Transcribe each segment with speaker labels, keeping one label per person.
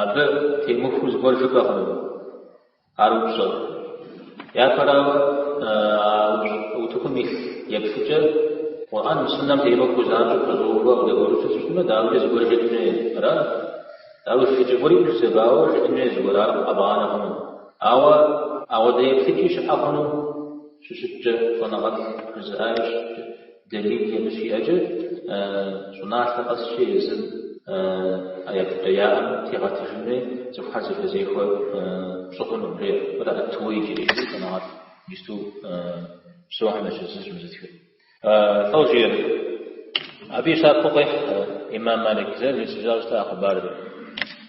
Speaker 1: Абы темыхуэу зыгуэр жыпӏэ хъуну ар упщӏэр. Япэрауэ, утыкум илъ еплъыкӏэр Къурӏэным, Суннэм темыхуэу занщӏэу пэщӏэувэ къыдэбгъэдэсу щытмэ, дауикӏэ зыгуэр жытӏын хуей? Аращ. Ауэ зыщеджэ гуэри ущызэбауэ жытӏын хуей зыгуэр, ар къэбгъанэ хъуну. Ауэ ауэдэ еплъыкӏи щыӏэ хъуну щыщыткӏэ, щӏэныгъэлӏ жызыӏари щыщыӏэкӏэ. Далили щиӏэкӏэ, щӏыналъэ къэсщи, езым еплъыкӏэ яӏэм тегъэтыжын хуей, цӏыхухэр зэхэзехуэ пщӏы хъуну, жеӏэ. Мыр Ат-Тууэйджири. Иджы щӏэныгъэлӏ иджысту псэухэм ящыщ зыщ мыр зытхыр. Лӏо жиӏэр. Абы и щапхъэу къехь ӏимам Малик, зэрищӏауэ щыта а хъыбарыр?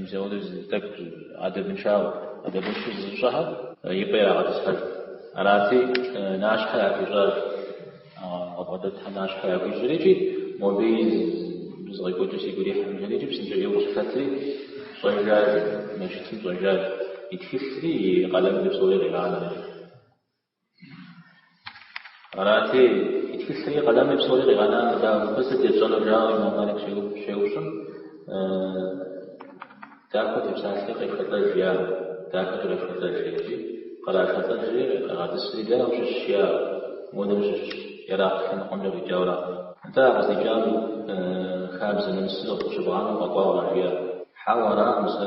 Speaker 1: Мис ауэдэу зы тӏэкӏу адэбыншэу, адэбыншу зызыщӏхэр и пӏэ ирагъэтӏысхьэж. Арати, нащхьэ яхуищӏащ, къыбгъэдэтхэм нащхьэ яхуищӏри икӏи мобы и зыкъекӏуэкӏыр сигу ирихьым жери икӏи псынщӏэ ӏейуэ къыщылъэтри щӏэжащ, мэжджытым щӏэжащ, и тхылъри и къалэмри псори къигъанэри. Арати, и тхылъри, къалэми псори къигъэнар дауэ сыт етщӏэнур жаӏэу ӏимам Малик щеупщӏым, дахэу фепсалъи къефшэлӏэж жиӏа, дахэу къефшэлӏэж икӏи кърашэлӏэжри къигъэтӏысри дэ ущыщ жиӏа, модэм щыщ, Иракъ лъэныкъуэмкӏэ къикӏауэращ. Атӏэ укъыздикӏам хабзэ нэмысыр къыщыбгъанэу укъэкӏуауэ жиӏэ? Хьэуэ, аракъым, сэ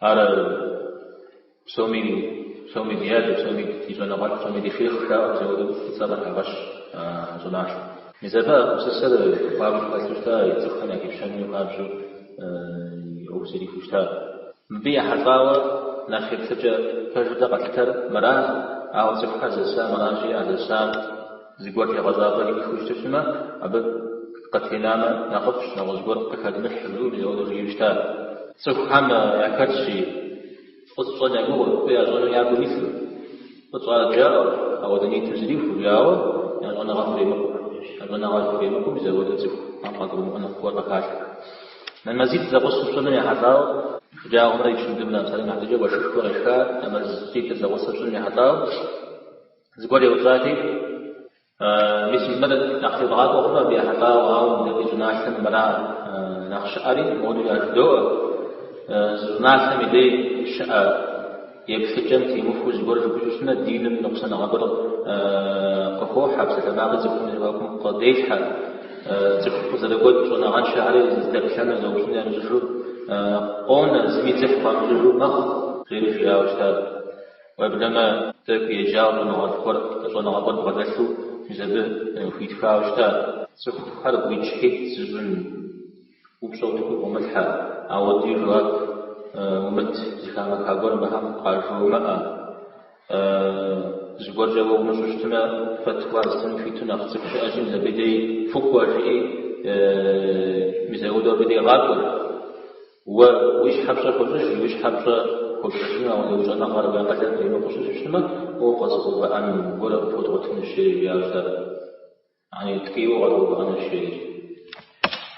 Speaker 1: Ар псоми, псоми ди адэ, псоми ди щӏэныгъэлӏ, псоми ди шейхъ жаӏэу зауэдэу и цӏэ къыхагъэщ а щӏыналъэм. Мис абы а гупсысэр хуабжьу хэлъу щыта, и цӏыхухэм яхипщэну хуабжьу и ӏуэху зэрихуэу щыта. Мыбы ехьэлӏауэ нэхъ еплъыкӏэ пэжу дэ къэтлъытэр мыращ, ауэ цӏыхухэр зэса мыращи, а зэсам, Зыгуэр тегъэщӏапӏэ иӏэххэу щыту щытмэ, абы къытенамэ нэхъыфӏщ, нэгъуэщӏ гуэр къыхэдмылъхьэу, мис ауэдэу жиӏэу щытар. Цӏыхухэм яхэтщи, фӏы ящӏэ я гугъэу, фӏы ящӏэну я гум илъу, фӏы тщӏар жаӏэу, ауэдэ ниет зэрахуэу, ауэ я щӏэныгъэр хуремыкъуу. Я щӏэныгъэр хуремыкъуми, зауэдэу цӏыхум къагурымыӏуэну гуэр къыхалъхьэ. Нэмэзитӏ зэгъусэу щӏыным ехьэлӏауэ, шэджагъуэмрэ икындымрэ, псалъэм и хьэтыркӏэ уэшхышхуэ къешхар, нэмэзитӏыр зэгъусэу щӏыным ехьэлӏауэ, Зыгуэр еупщӏати, Мис мыбы нэхъ тебгъакӏуэ хъуну абы ехьэлӏауэ, ауэ мыдэкӏэ ди щӏыналъэм мыра нэхъ щыӏэри? Модули ар жыдоӏэ, Зы щӏыналъэм и дей щыӏэ еплъыкӏэм темыхуэу зыгуэр жыпӏэу щытмэ, диным ныкъусаныгъэ гуэр къыхохьэ, псалъэмакъыр цӏыхум я зэхуакум къыделъхьэ, цӏыху къызэрыгуэкӏ щӏэныгъэншэхэри зыдэплъэну, зэупщӏыну ямыщӏэжу къонэ, зыми дзыхь хуамыщӏыжу мэхъу, жери жиӏауэ щытащ. Уеблэмэ, дэ хуиеджагъ щӏэныгъэлӏ гуэр щӏэныгъэ куэд бгъэдэлъу мис абы хуитхауэ щытат. Цӏыхухэр гуитӏщхьитӏ зыщӏын, упщӏэ утыку къыумылъхьэ, апхуэдэ жэуап умыт, зыхамыха гуэр абыхэм къажыумыӏэ. Зыгуэркӏэ уэ умыщӏэу щытмэ, фэтуа зытын хуиту нэхъ цӏыху щыӏэщи мис абы дей фыкӏуэ, жиӏи мис апхуэдэу абы дегъакӏуэр. Уэ уи щхьэ пщӏэ хуэщӏыж, уи щхьэ пщӏэ хуэпщӏыжыну апхуэдэ уи щӏэныгъэр уи акъылыр къримыкъуу щыщытмэ, уэ укъэзыгъэувыӏэн гуэр къыпхуэдгъуэтынущ, жери жиӏащ ар. Яни, ткӏийуэ укъэзыгъэувыӏэнущ, жери.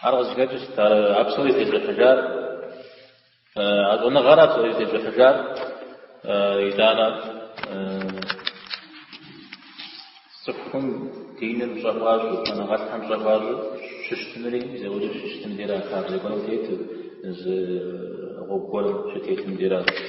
Speaker 1: Ар къызыхэкӏыр сыт, а псори зытещӏыхьыжар, а щӏэныгъэр, а псори зытещӏыхьыжар, итӏанэ. Цӏыхум диным пщӏэ хуащӏу, щӏэныгъэлӏхэм пщӏэ хуащӏу щыщытымри, зэуэри щыщытым деращ, хабзэ гуэрым тету, зы гъуэгу гуэрым щытетым деращ.